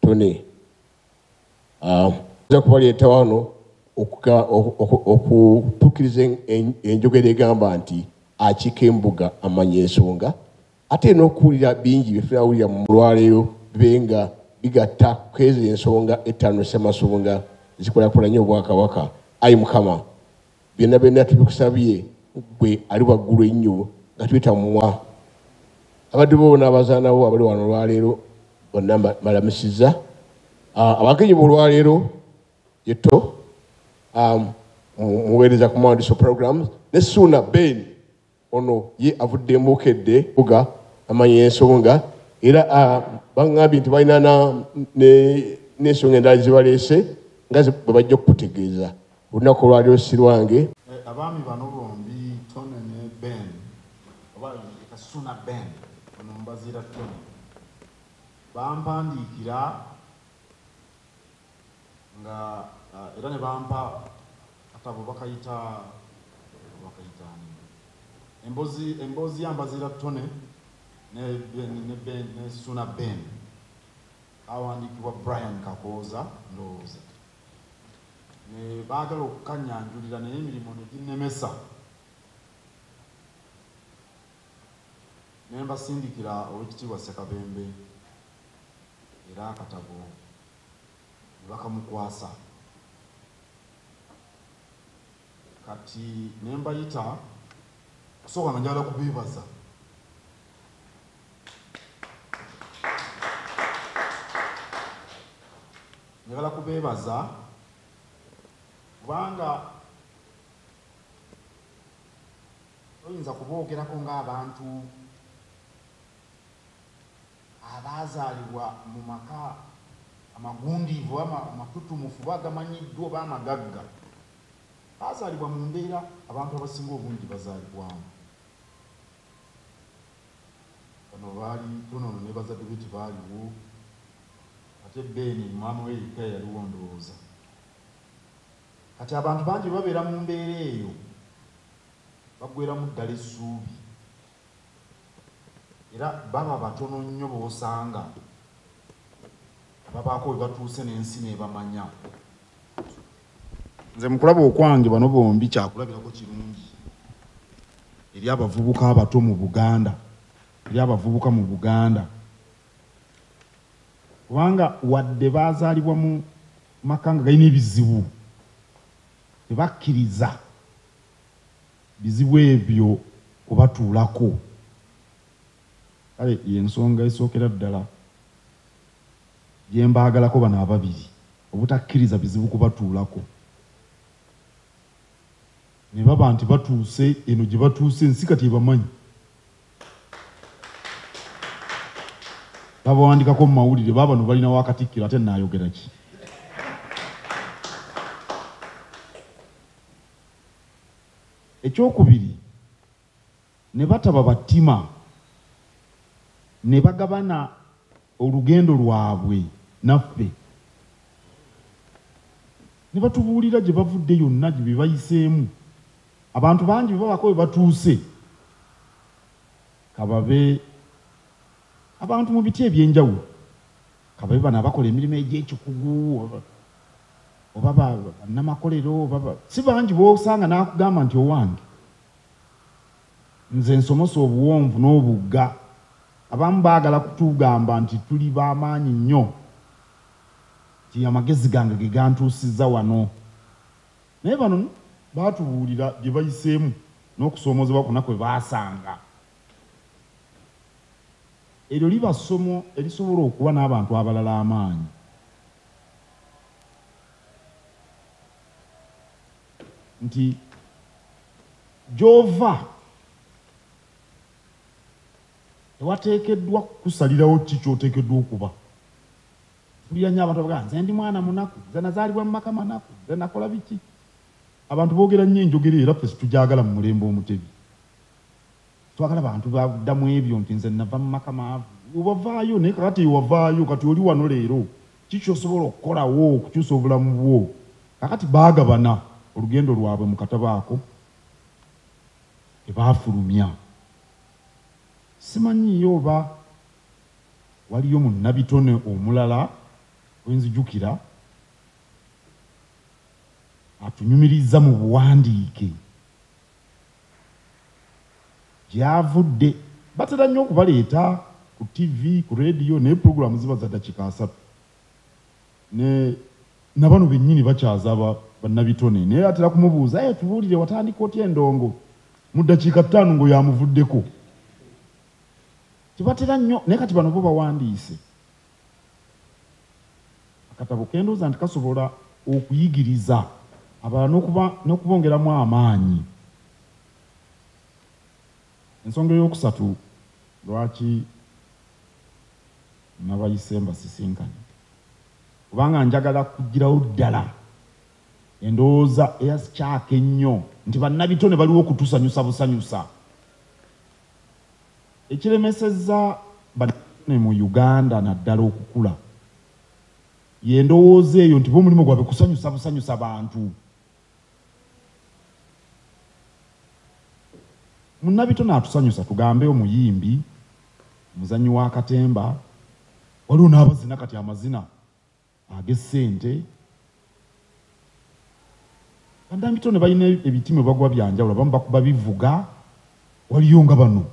tone um, nja kubaleeta wano okutukiriza enjogera egamba nti akiika embuga amanya ensonga ate n'okuwulira bingi byetunawulira mu mulwaleero bibe nga bigatta kwezo ensonga ettaano ssemasonga zikulakulanye obwakabaka ayi mukama byonna byonna tubikusabye gwe ali waggulu ennyo nga tuyita mumwa abaddu bo bona abazaanawo abali wano olwaleero bonna malamusiza ah, abagenyi bolwaleero yeto ah, muweereza ku mwandiso programs ne suuna ben Ono ye avudde mu Bukedde Mpuga amanyi ensonga era ah, bangambye nti balina n'ensonga endala zibaleese nga bwe bajja okukutegeeza olunaku olwaliro sirwange eh, abaami bano bombi tone ne ben oba kasuna ben ono mubazira tone bampandiikira nga uh, era ne bampa akatabo bakayita bakayitaani embozi embozi yambazira tone ne ben ne ben ne suna ben awandiikibwa brian kakooza ndowooza ne baagala okukanyanjulira naye emirimu ne ginnemesa ne mbasindikira owekitiibwa ssekabembe era akatabo ne bakamukwasa kati ne mbayita kusooka nga njagala kubeebaza njagala kubeebaza kubanga toyinza kuboogerako ng'abantu Abaazaalibwa mu maka amagundiivu oba amatutumufu oba agamanyiddwa oba amagagga baazaalibwa mu mbeera abantu abasinga obungi gye bazaalibwamu. Bano baali Tonono ne bazadde be tebaaliwo ate Ben maama we yekka ye yaliwo ndowooza. Kati abantu bangi bwe babeera mu mbeera eyo baggweeramu ddala essuubi. Era baba batono nnyo b'osanga ababaako we batuuse n'ensi n'ebamanya. Nze mu kulaba okwange bano bombi kyakulabirako kirungi eri abavubuka abato mu Buganda, eri abavubuka mu Buganda kubanga wadde baazaalibwa mu maka nga galina ebizibu tebakkiriza Bizibu ebyo kubatuulako. Kale y'ensonga esookera ddala gye mbaagalako bano ababiri obutakkiriza bizibu kubatuulako ne baba nti batuuse eno gye batuuse ensi kati ebamanyi. babawandikako mu mawulire baba no balina wakatikkiro ate nayogera ki ekyokubiri ne bataba battima ne bagabana olugendo lwabwe naffe ne batubuulira gye bavudde yonna gye bebayiseemu abantu bangi bebabako we batuuse kababe abantu mu biti ebyenjawulo kababe bano abakola emirimu egyekikugu oba banamakolero si bangi bosanga nakugamba nti owange nze nsomose obuwonvu n'obugga abamu baagala kutugamba nti tuli bamaanyi nnyo nti amagezi gange ge gantuusiza wano naye bano baatubuulira gye bayiseemu n'okusoomozebwa kuna kwe baasanga Eryo liba ssomo erisobola okuwa n'abantu abalala amaanyi. Nti gy'ova tewateekeddwa kukusalirawo ki ky'oteekeddwa okuba. Mpulira nnyo abantu abagaa nze ndi mwana munaku, nze nazaalibwa mu maka manaku, nze nakola biki. Abantu boogera nnyo enjogera era ffe situgyagala mu mulembe Omutebi. Twagala bantu badda mu ebyo nti nze nava mu maka maavu. Wavaayo naye kakati wavaayo kati oli wano leero ki kyosobola okukolawo okukyusa obulamu bwo? Kakati baagabana olugendo lwabwe mu katabo ako ke baafulumya. Simanyiiyo oba waliyo munnabitone omulala gwe nzijukira atunyumirizza mu buwandiike. gyavudde batera nnyo okubaleeta ku TV ku radio naye program ziba za dakika asatu ne nabano bennyini bakyaza bannabitone naye atera kumubuuza e tubuulire watandika otya endongo mu ddakiika ttaano ngo yamuvuddeko tebatera nnyo naye kati bano bo bawandiise akatabo kendooza nti kasobola okuyigiriza abala n'okubongeramu amaanyi ensonga eyokusatu lwaki nabayise mbasisinkanye kubanga njagala kugirawo ddala endowooza eyasikyaka ennyo nti bannabitone baliwo okutusanyusa busanyusa Ekiremesezza bannaddiini mu Uganda naddala okukula ye ndowooza eyo nti bo omulimu gwabwe kusanyusa busanyusa bantu. Munnabitone atusanyusa tugambe omuyimbi, omuzannyi wa katemba, waliwo n'abazina kati amazina. ag'essente bandambitone balina ebitima bagwa byanjawulo abamu bakuba bivuga waliyo nga bano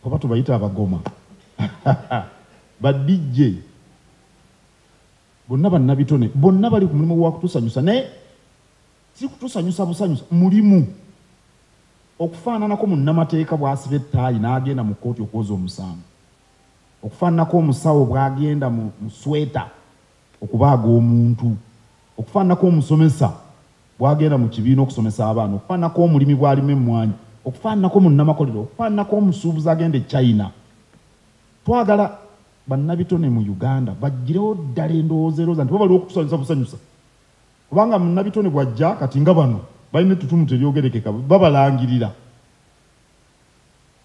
oba tubayita abagoma badijje bonna bannabitone bonna bali ku mulimu gwakutusanyusa naye si kutusanyusa busanyusa mulimu okufaananako munnamateeka bwasiba ettaayi n'agenda mu kkooti okwoza omusango okufaananako omusawo bw'agenda mu sweta okubaaga omuntu okufaananako omusomesa bw'agenda mu kibiina okusomesa abaana okufaananako omulimi bw'alima emmwanyi okufaananako munnamakolero okufaananako omusuubuzi agenda e china twagala bannabitone mu uganda bagirewo ddala endowooza erooza nti babaliwo okutusanyusa busanyusa kubanga munnabitone bwajja kati nga bano balina ettutumu teryogerekeka babalangirira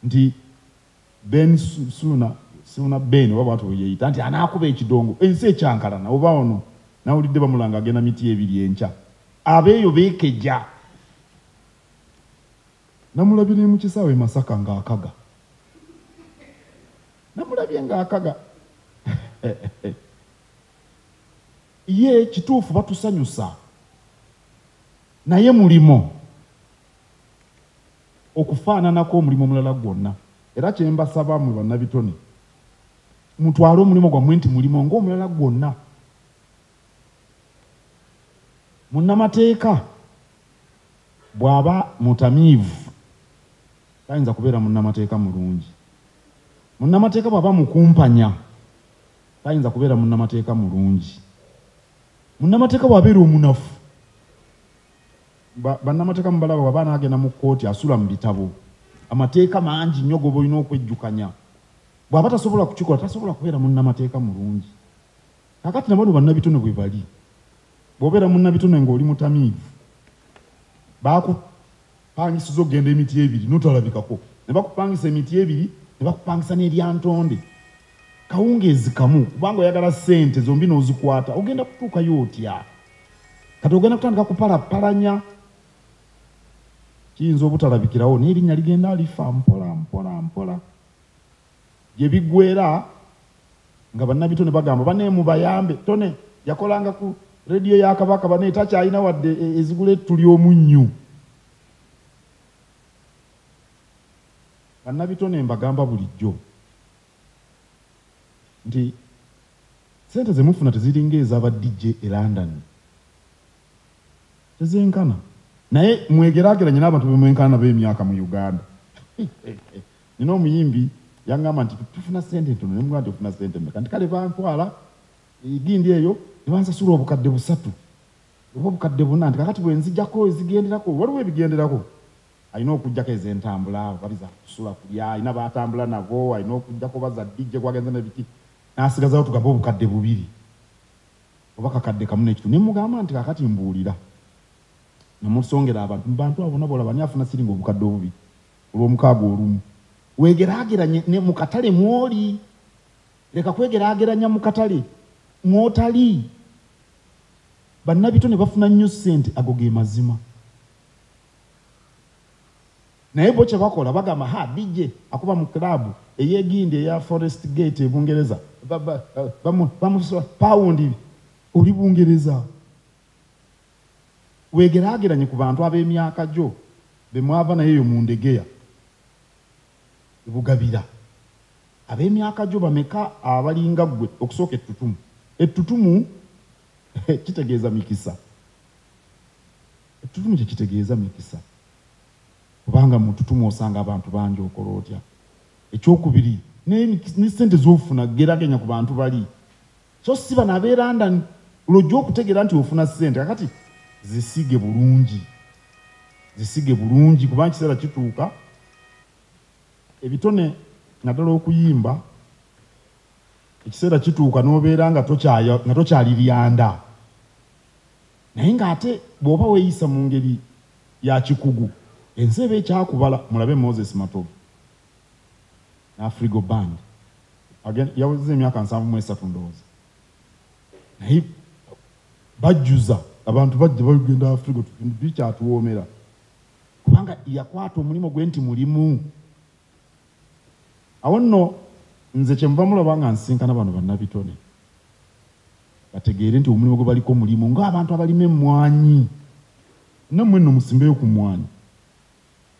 nti Ben Suna Suna Ben oba bwatu yeyita nti anaakuba ekidongo ensi ekyankalana oba ono nawulidde bamulanga agenda miti ebiri enkya abeeyo beekeja namulabire mu kisaawe masaka ng'akaga namulabye ng'akaga ye kituufu batusanyusa naye mulimo okufaananako omulimu omulala gwonna. Era kye mbasaba mmwe bannabitone, mutwale omulimu gwammwe nti mulimo ng'omulala gwonna. Munnamateeka bw'aba mutamiivu tayinza kubeera munnamateeka mulungi. Munnamateeka bw'aba mukumpanya tayinza kubeera munnamateeka mulungi. Munnamateeka bw'abeera omunafu. bannamateeka mubalaba waba anaagenda mu kkooti asula mu bitabo amateeka mangi nnyo goba olina okwejjukanya bw'aba tasobola kukikola tasobola kubeera munnamateeka mulungi kakati nabano bannabitone bwe bali bw'obeera munnabitone ng'oli mutamiivu baakupangisiza okugenda emiti ebiri notalabikako ne bakupangisa emiti ebiri ne bakupangisa n'eryantonde kawungeezi kamu kubanga oyagala ssente zombi n'ozikwata ogenda kutuukayo otya kati ogenda kutandika kupalapalanya kiyinza obutalabikirawo naye erinnya ligenda alifa mpola mpola mpola gye bigwera nga bannabito ne bagamba bane mubayambe tone yakolanga ku rediyo ya kabaka bane takyalina wadde e, ezigula ettuli omunnyu bannabitone mbagamba bulijjo nti sente zemufuna teziringa ezaba DJ e London tezenkana naye mwegerageranye n'abantu bemwenkana nabo emyaka mu Uganda nina omuyimbi yangamba nti tufuna sente ntono nemugamba nti ofuna sente meka nti kale bantwala egindi eyo nebansasula obukadde busatu oba obukadde buna nti kakati bwenzigyako ezigenderako waliwo ebigenderako Alina okujjako ezentambula oba biza kusula kulya alina batambula nabo alina okujjako oba za DJ gwagenze ne biki nasigazawo tugambe obukadde bubiri oba kakadde kamu nekitu ne mugamba nti kakati mbuulira namusongera abantu mubantu abo bona bolaba ani afuna siringa obukadde obubiri olwomukaaga olumu wegeraageranye ne mukatale mwoli leka kwegeraageranya mukatale mwotali bannabito ne bafuna nnyo ssente ago ge mazima naye bo kyebakola bagamba ha dj akuba mu club eyegindi eya forest gate ebungereza bamusa pawundi oli bungereza wegerageranye ku bantu ab'emyaka gyo bemwava naye eyo mu ndegeya ebugabira ab'emyaka gyo bameka abalinga ggwe okusooka ettutumu ettutumu kitegeeza mikisa Ettutumu kye kitegeeza mikisa. Obanga mu ntutumu osanga abantu bangi okola otya? Ekyokubiri, ne, ne ssente z'ofuna geraganya ku bantu bali, so si bano ab'e London. Lw'ojja okutegeera nti ofuna ssente, kakati zisige bulungi, zisige bulungi, kuba ekiseera kituuka ebitone naddala okuyimba ekiseera kituuka n'obeera nga tokyali lyanda. naye ng'ate bw'oba weeyisa mu ngeri ya kikugu ensi eba ekyakubala mulabe moses matovu n'afrigo band yaweza emyaka nsanvu mu esatu ndowooza naye bajjuza abantu bajja bagenda afrigo bikyatuwoomera kubanga yakwata omulimu gwe nti mulimu awo nno nze kyemuva mulaba nga nsinkana bano bannabitone bategeere nti omulimu gwe baliko mulimu ng'abantu abalima emmwanyi nammwe nno musimbeyo ku mmwanyi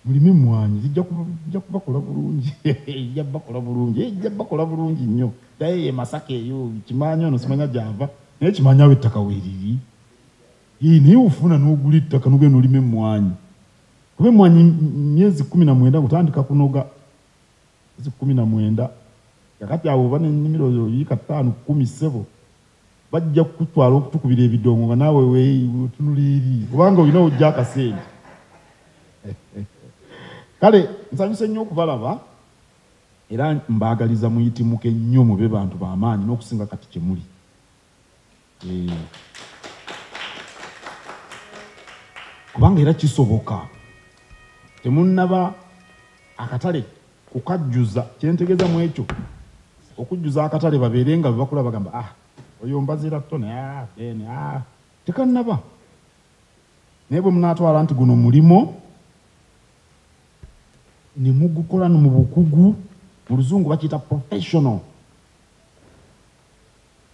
mulime emmwanyi zijja kubakola bulungi ejja bakola bulungi ejja bakola bulungi nnyo daye ye masaka eyo kimanya ono simanya gyava naye kimanya awo ettaka weeriri ii naye ofuna n'ogula ettaka nogenda olima emmwanyi kuba emmwanyi myezi kumi na mwenda ngutandika kunoga zi kkumi na mwenda kakati awo oba nenimiro yo yiika ttaano kkumi ssebo bajja kukutwala okutukubira ebidongo nga naawe wetunula eri kubanga olina ojja akasente kale nsanyuse nnyo okubalaba era mbaagaliza muyitimuke nnyo mube bantu bamaanyi n'okusinga kati kyemuli hmm. kubanga era kisoboka temunaba akatale kukajjuza kyentegeza mu ekyo okujjuza akatale babeere nga bebakula bagamba ah oyo mbazira tone ah, ben ah. tekanaba naye bwe munatwala nti guno mulimo ne mugukola no mu bukugu mu luzungu bakiyita professional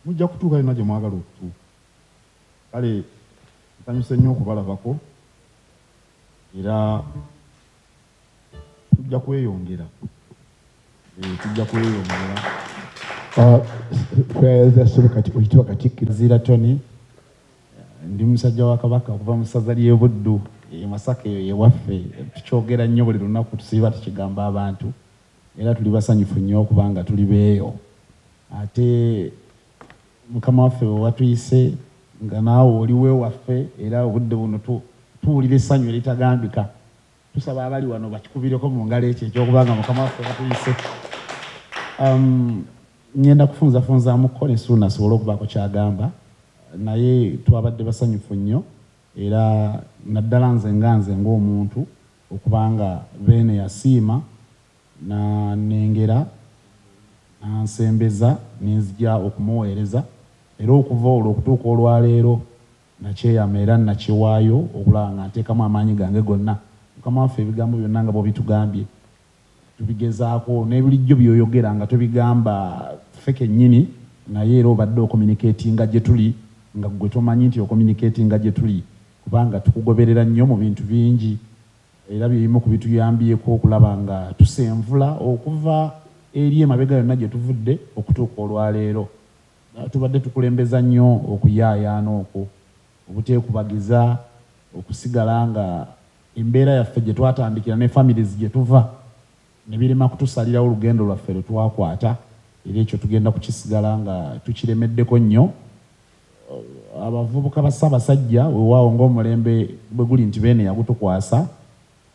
Mujja kutuuka yonna gye mwagala okutuuka. Kale nsanyuse nnyo okubalabako era tujja kweyongera eh, tujja kweyongera zira tony ndi musajja wa kabaka okuva mu ssaza ly'ebuddu emasaka eyo yewaffe tukyogera nnyo buli lunaku tusiiba tukigamba abantu era tuli basanyufu nnyo okubanga tuli beeyo ate mukama waffe wewatuyise nga naawe oliwe waffe era obudde buno tuwulira essanyu eritagambika tusaba abali wano bakikubireko mu ngalo ekyo ekyokubanga mukama waffe watuyise um, ngenda kufunzafunzamuko nesuuna asobole okubaako kyagamba naye twabadde basanyufu nnyo era naddala nze nga nze ngaomuntu Okuba nga Beene yasiima n'annengera n'ansembeza ne nzija okumuweereza, era okuva olwo okutuuka olwa leero nnakyeyama era nnakyewaayo okulaba nga nteekamu amaanyi gange gonna, Mukama waffe, ebigambo byonna nga bw'obitugambye. tubigezaako nebulijjo byoyogera nga tobigamba ffe kennyini naye era obadde okominiketinga gye tuli nga ggwe tomanyi nti okominiketinga gye tuli kubanga tukugoberera nnyo mu bintu bingi era byebimu ku bituyambyeko okulaba nga tusenvula okuva eri emabega yonna gye tuvudde okutuuka olwaleero tubadde tukulembeza nnyo okuyaayaana okwo obuteekubagiza okusigala nga Embeera yaffe gye twatandikira ne families gye tuva ne birema kutusalirawo lugendo lwaffe lwe twakwata era ekyo tugenda kukisigala nga tukiremeddeko nnyo. Abavubuka ba Ssaabasajja wewaawo ng'omulembe bwe guli nti Beene yagutukwasa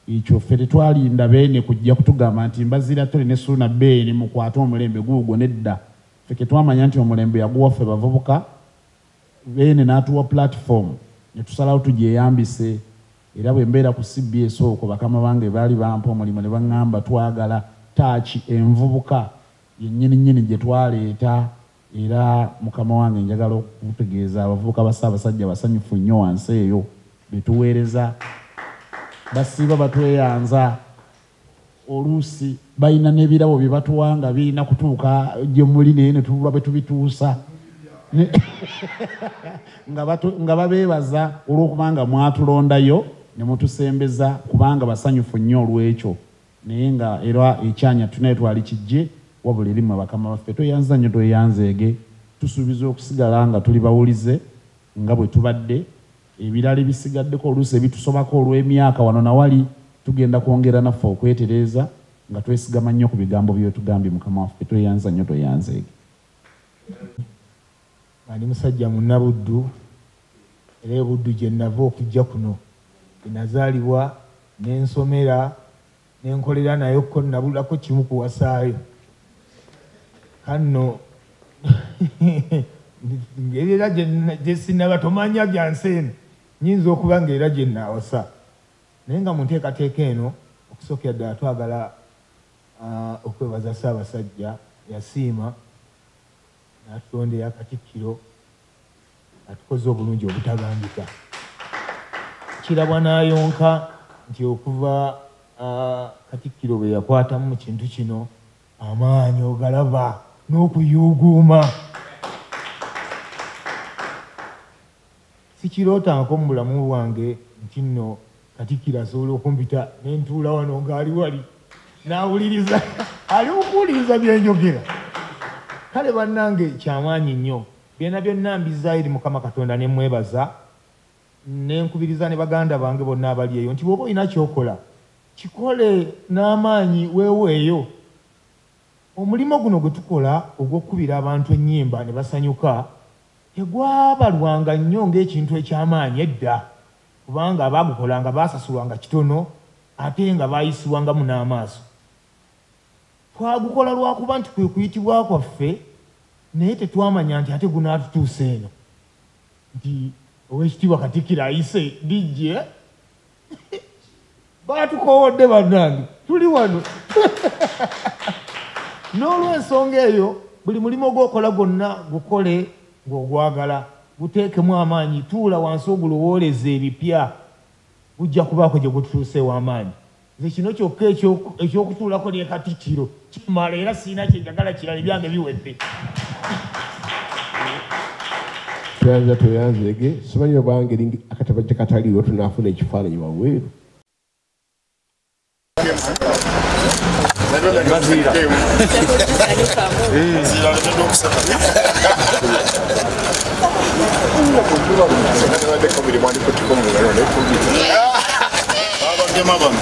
ekyo ffe tetwalinda Beene kujja kutugamba nti Mbaziira Ttore ne Ssuuna Beene mukwate omulembe guugwo nedda ffe ke twamanya nti omulembe yaguwa ffe bavubuka Beene n'atuwa platform ne tusalawo tugyeyambise era bwe mbeera ku cbs okwo bakama bange baali bampa omulimu ne bang'amba twagala ttaaci envubuka yennyininnyini gye twaleeta era mukama wange njagala okukutegeeza abavubuka ba Ssaabasajja basanyufu nnyo wansi eyo be tuweereza basiiba batweyanza. oluusi balina n'ebirabo bye batuwa nga birina kutuuka gye muli naye ne tubula bwe tubituusa nga babeebaza olw'okuba nga mwatulondayo ne mutusembeza kubanga basanyufu nnyo olw'ekyo naye nga era ekyanya tunaye twali kijje wabula erimu abakama baffe tweyanza nnyo tweyanzeege tusuubiza okusigala nga tuli bawulize nga bwe tubadde Ebirala ebisigaddeko oluusi ebitusobako olw'emyaka wano na wali, tugenda kwongera naffe okwetereeza nga twesigama nnyo ku bigambo by'otugambye Mukama waffe. Tweyanza nnyo tweyanzeege. Nga ndi musajja Munnabuddu era e Buddu gye nnava okujja kuno gye nazaalibwa ne nsomera. nenkolera nayo ko nabulako kimu kuwasaayo kanno ngeri era gyesinaba tomanya byansi eno nyinza okuba nga era gyenaawasa naye nga mu nteekateeka eno okusookera ddala twagala ah, okwebaza ssaabasajja yasiima natulondera katikkiro atukoze obulungi obutagambika kirabwa n'ayonka nti okuva katikkiro bwe yakwatamu mu kintu kino amaanyi ogalaba n'okuyuuguuma sikiroota nko mu bulamu bwange nti nno Katikkiro asobola okumpita ne ntuula wano ng'ali wali n'awuliriza ali mukuwuliriza byenjogera kale bannange kyamaanyi nnyo byona byonna mbizaayo eri mukama katonda ne mwebaza ne nkubiriza ne baganda bange bonna abali eyo nti bwoba olina kyokola kikole n'amaanyi weeweeyo omulimu guno gwe tukola ogw'okukubira abantu ennyimba ne basanyuka tegwabalwanga nnyo ng'ekintu eky'amaanyi edda kubanga abaagukolanga baasasulwanga kitono ate nga baayisibwangamu n'amaaso. Twagukola lwa kuba nti kwe kuyitibwa kwaffe naye tetwamanya nti ate gunaatutuusa eno nti owekitiibwa katikiro ayise dijje Batukowodde bannange, tuli wano n'olwensonga eyo buli mulimu ogwokola gwonna gukole ng'ogwagala guteekemu amaanyi tuula wansi ogulowooleza ebipya gujja kubaako gye gututuusa ew'amaanyi nze kino kyokka ekyokutuulako ne katikkiro kimala era sirina kyenjagala kirala ebyange biwedde tweyanza tweyanzege simanyi oba ngeri akatabajja kataliwo tunaafuna ekifaananyi wabweru Yeah. Babagema bano.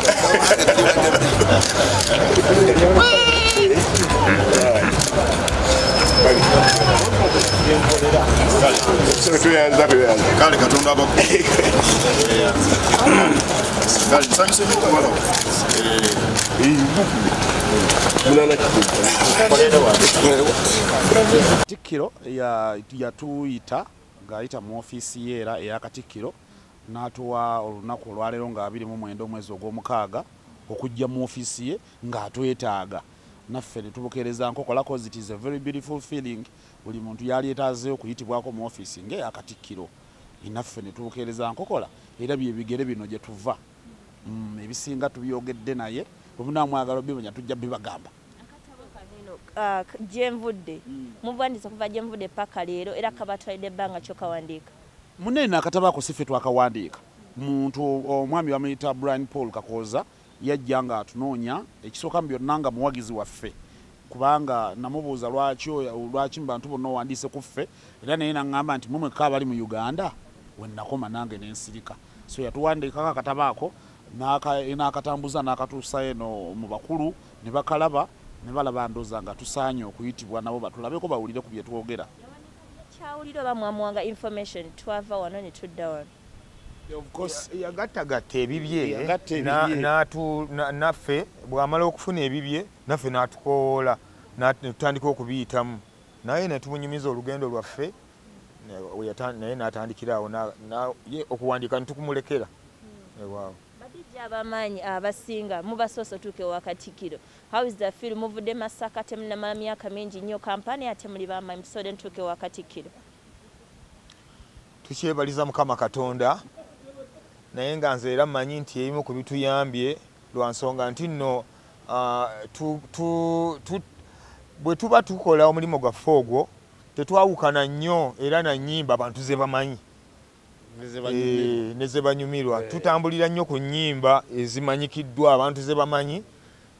kale katonda abak katikkiro yatuyita ng'ayita mu ofiisi ye era eya katikkiro n'atuwa olunaku olwaleero nga abiri mu mwenda omwezi ogw'omukaaga okujja mu ofiisi ye ng'atwetaaga naffe ne tubukeereza nkokolako zit is a very beautiful feeling buli muntu yali etaaze okuyitibwako mu ofiisi ng'eyakatikkiro naffe ne tubukeereza nkokola era bye bigere bino gye tuva mm, ebisinga tubyogedde naye bwe munaamwagala obimanya tujja bibagamba uh, gyenvudde mm. mubwandiza okuva gyenvudde paka leero era kabatwalidde ebbanga kyokawandiika Mune na kataba ko sife twakawandiika muntu omwami bamuyita Brian Paul Kakooza yajja nga atunoonya ekisooka mu byonna nga muwagizi waffe kubanga namubuuza lwaki lwaki mubantu bonna owandiise ku ffe era naye naŋŋamba nti mwe mwekka abali mu uganda wennakoma nange nensirika so yatuwandiikako akataba ako n'akatambuza n'akatuusa eno mu bakulu ne bakalaba ne balaba ndoza nga tusaanye okuyitibwa nabo batulabeko bawulire ku bye twogera Kyawulira oba mwamuwanga information twava wano ne tudda wano. yagattagatta ebibye naffe bw'amala okufuna ebibye naffe n'atukowoola netutandika okubiyitamu naye netumunyumiza olugendo lwaffe naye n'atandikiraawo ye okuwandiika netukumulekera hmm. ewaawo abamaanyi abasinga mubasoose otuuka ewakatikiro How is the feel muvude masaka temunamala myaka mingi nnyo kampani ate muli bamayi musode ntuuka ewa katikkiro tukyebaliza mukama katonda naye nga nze era mmanyi nti ebimu ku bituyambye lwa nsonga nti nno ah, bwe tuba tukola omulimu gwaffe ogwo tetwawukana nnyo era na nnyimba abantu ze bamanyi ne zebanyumirwa eh, eh. tutambulira nnyo ku nyimba ezimanyikiddwa abantu zebamanyi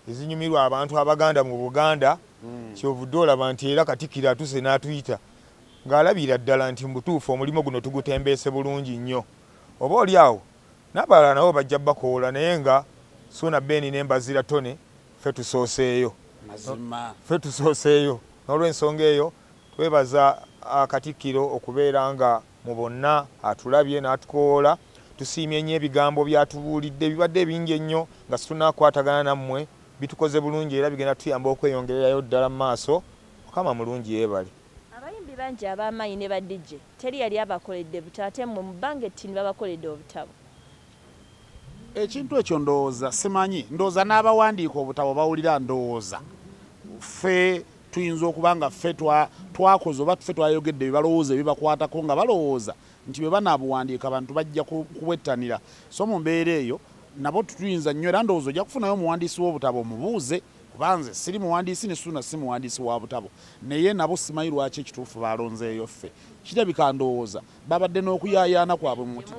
ezinyumirwa abantu abaganda mu buganda hmm. kyovudde olaba nti era katikiro atuse n'atuyita ng'alabira ddala nti mubutuufu omulimu guno tugutembeese bulungi nnyo oba oli awo nabalala nabo bajja bakoola naye nga suuna beni nembazira tone fe tusooseeyo fe tusooseeyo n'olwensonga eyo twebaza akatikkiro ah, okubeera nga mu bonna atulabye n'atukowoola tusiimye nnyo ebigambo byatubuulidde bibadde ebingi ennyo nga situnakwatagana nammwe bitukoze bulungi era bigenda tuyamba okweyongererayo ddala mu maaso mukama mulungi yeebale abayimbi bangi ab'amaanyi ne badijje teri yali abakoledde buto ate mmwe mu bbanga ettini babakoledde obutabo ekintu ekyo ndowooza simanyi ndowooza n'abawandiika obutabo bawulira ndowooza ffe tuyinza okuba nga ffe twakoze oba ffe twayogedde byebalowooza ebibakwatako nga balowooza nti bwe banaabuwandiika abantu bajja kuwettanira so mu mbeera eyo nabo tutuyinza nnyo era ndowooza ojja kufunayo omuwandiisi w'obutabo omubuuze kubanze siri muwandiisi ne suuna si muwandiisi wa butabo naye nabo simanyi lwaki ekituufu balonzeeyo ffe kirabika ndowooza babadde n'okuyaayaana kwabwe muti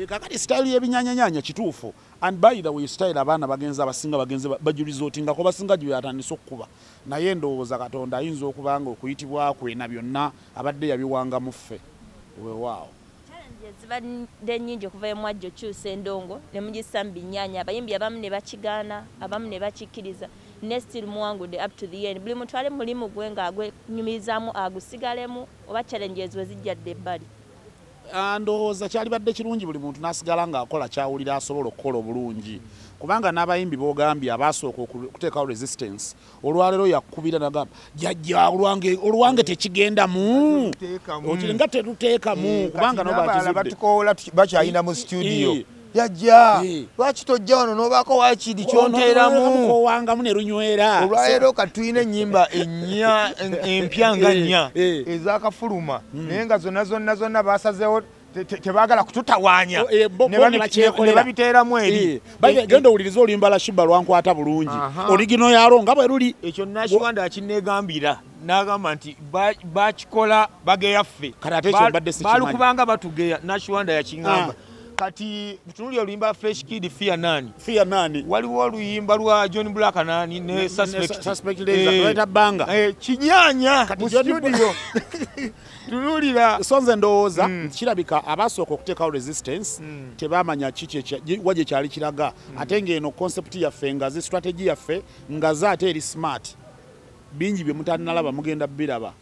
kakati sitayiro y'ebinyanyanyaanya kituufu and by the way style abaana bagenze abasinga bagenze bajuliza oti ngako basinga juli atandise okukuba naye ndowooza katonda ayinza okubanga okuyitibwa kwe na byonna abadde yabiwanga muffe wewaawo zibadde nyingi okuva emwajja okyusa endongo ne mugissa mu binyanya abayimbi abamu ne bakigaana abamu ne bakikkiriza ne still muwangude up to the end buli muntu ali mulimu gwe nga agwenyumirizamu agusigalemu oba challenges we zijjadde ebbali Ah, ndowooza kyalibadde kirungi buli muntu nasigala ngaakola kyawulira asobola okukola obulungi kubanga n'abayimbi bogambye abaasooka okuteekawo resistance olwaleero yakubira nagamba jajja olwange tekigendamu nga tetuteekamu eh, kubanga nobakizudde bakyayina mu studio eh, yajja eh. lwaki tojja wano nobaako wakiri kyonteeramuowangamu ne lunywera olwaleero kati tulina ennyimba ennya empya nga eh, nnya eh. ezakafuluma hmm. naye nga zonna zonna zonna basazeewo tebagala kututawanya oh, eh, nebabiteeramu eri eh, eh, e- genda owuliriza olimba la shiba lwankwata bulungi oligino yalo nga bwe luli ekyo nakiwanda akinegambira nagamba nti bakikola bageyaffe balukubanga batugeya nakiwanda yakingamba ah. kati tunuli oluyimba fresh kid fear nani fear nani waliwo oluyimba lwa john black nani ne suspect suspect leza eh, leta banga eh kinyanya mu studio tunulira sonze ndowoza mm. kirabika abasoko kuteka resistance mm. tebamanya kiche cha waje chali kiraga mm. atenge eno concept ya fe ngazi strategy ya fe ngaza ate eri smart bingi bye mutanalaba mugenda biraba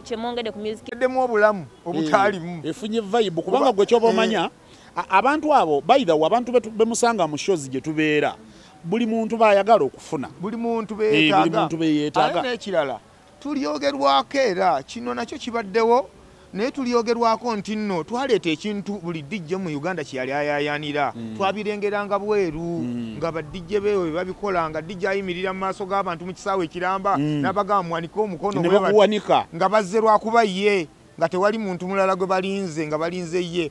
kyemwongeddemu obulamu obutaalimu eh, efunye vibe kubanga gwe kyoba omanya eh. abantu abo baithaw abantu bemusanga mu shows gye tubeera buli muntu bayagala okufuna buli muntu beyetaaga eh, nekirala tulyogerwako era kino nakyo kibaddewo naye tulyogerwako nti nno twaleeta ekintu buli dijje mu uganda kyeyali ayayanira mm. twabirengeranga bweru mm. nga badijje bewe bebabikola nga dijje ayimirira mu maaso g'abantu mu kisaawe ekiramba mm. nabagamba muwanike omukono nga bazze lwakuba ye nga tewali muntu mulala gwe balinze nga balinze ye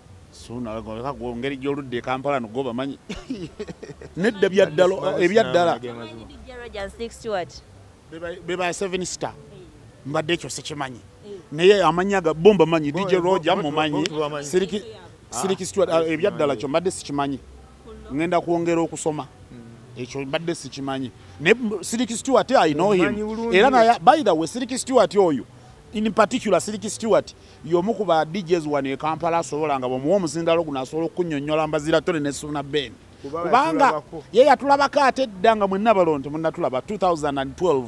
suuna leka ku ngeri gy'oludde e kampala no gwe bamanyi nedda byaddala ebyaddala be ba seven star mbadde ekyo sikimanyi naye amanyi aga bo mbamanyi dj roger mumanyi siriki stewart ah, ebyaddala kyo mbadde sikimanyi ŋenda kwongera okusoma hmm. ekyo mbadde sikimanyi naye siriki stewart i know him era naye by the way siriki stewart oyo in particular siriki stewart y'omu ku ba DJs wano e Kampala asobola nga bwemuwa omuzindalo guno asobola okunyonyola mbazira tone ne Suna Ben kubanga ye yatulabako ate edda nga mwenna balonto munatulaba 2012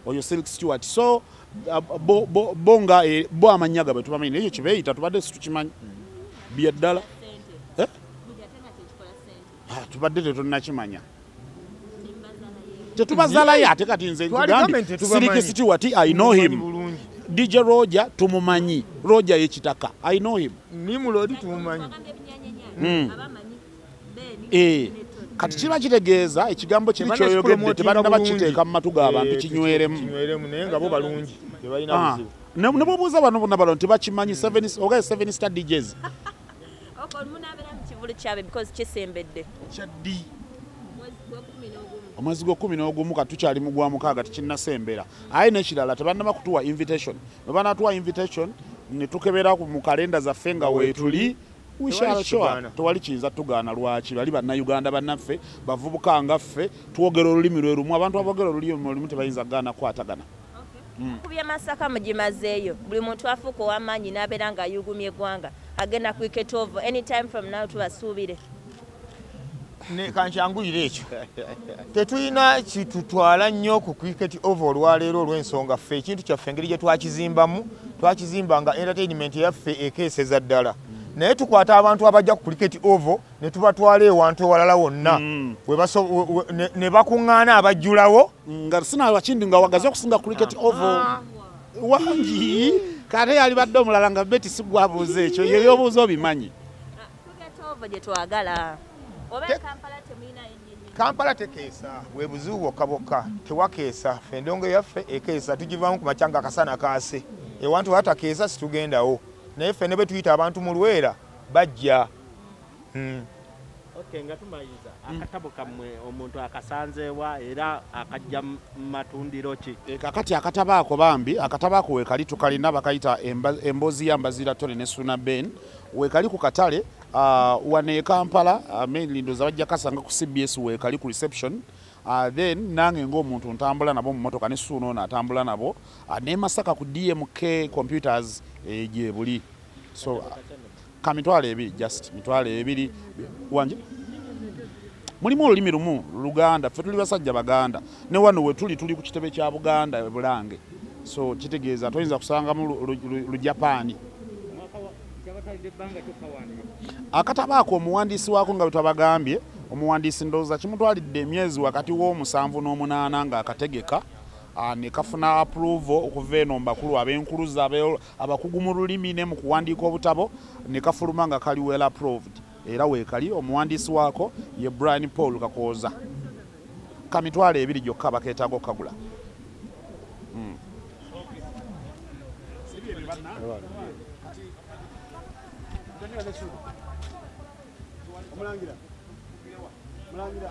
oyo Silk Stewart so uh, bo, bo, bo nga e, bo amannya gabwe tubamanyi naye ekyo kibeeyita tubadde situkimanyi byeddala Ah, tubadde tetunakimanya tetubazalayo ate kati nze sirikisitiwati i know him dj roja tumumanyi roja yekitaka i know him nimulodi tumumanyi hmm. eh, kati kiba kitegeeza ekigambo kiri kyoyogedde tebanna bakiteeka mu matu g'abantu eh, kinyweremu ah, ne bwobuuza bano bona balo nti bakimanyi ogaye seven star djs kyaddi omwezi gwekumi n'ogumu ka tukyali mu gwa mukaaga tikinnasembera aye nekirala tebannaba kutuwa invitation bwe banatuwa invitation ne tukebera mu kalenda zaffe nga weetuli tewali kiyinza tugaana lwaki bali bannayuganda bannaffe bavubuka nga ffe twogera olulimi lwe lumu abantu aboogera olulimi lumu tebayinza kugaana kukwatagana Mm. kubye masaka mugimazeeyo buli muntu afuuka owamaanyi n'abeera nga ayugumya eggwanga agenda kwiketovo anytime from now tubasuubire kankyanguyire ekyo tetulina kitutwala nnyo ku cricket ova olwaleero olw'ensonga ffe ekintu kyaffe engeri gye twakizimbamu twakizimba nga entertainment yaffe ekeeseza ddala naye tukwata abantu abajja ku cricket ovo ne tubatwala ewantu ewalala wonna mm. ne bakuŋŋaana abajjulawo nga sina wakindi nga wagaze okusinga cricket oval wangi kate yalibadde omulala nga beti sigwabuuza ekyo ye byobuuza obimanyi kampala tekeesa webuzibu bwokka bwokka tewakeesa fe endongo yaffe ekeesa tugivamu ku makyanga akasana kaase ewantu watakeesa situgendawo naye ffe ne bwe tuyita abantu mu lwera bajja Hmm. Okay, nga tumayiza hmm. akatabo kamwe omuntu akasanzeewa era akajja matundiro ki e, kakati akatabo ako bambi akatabo ako wekali tukalina bakayita emboozi ya mbazira tore ne suna ben wekali ku katale uh, wane e kampala uh, mainly ndoza bajja kasanga ku cbs wekali ku reception uh, then nange ngaomuntu ntambula nabo mumotoka ne suuna ono atambula nabo uh, ne masaka ku dmk computers egyebuli eh, so uh, ka mitwalo ebiri just mitwalo ebiri wanje mulimu olulimi lumu luganda ffe tuli basajja baganda ne wano we tuli tuli ku kitebe kya buganda e bulange so kitegeeza toyinza kusangamu lujapaani akataba ako omuwandiisi waako nga bwetwabagambye omuwandiisi ndowooza kimutwalidde emyezi wakati w'omusanvu n'omunaana ng'akategeka Ah, nekafuna approval okuva eno mbakulu abenkuluza abakugu mu lulimi ne mu kuwandiika obutabo ne kafuluma nga kali well approved era weekali omuwandiisi waako ye brian paul kakooza ka mitwalo ebiri gyokka bakeetaaga okukagula hmm. Mulangira.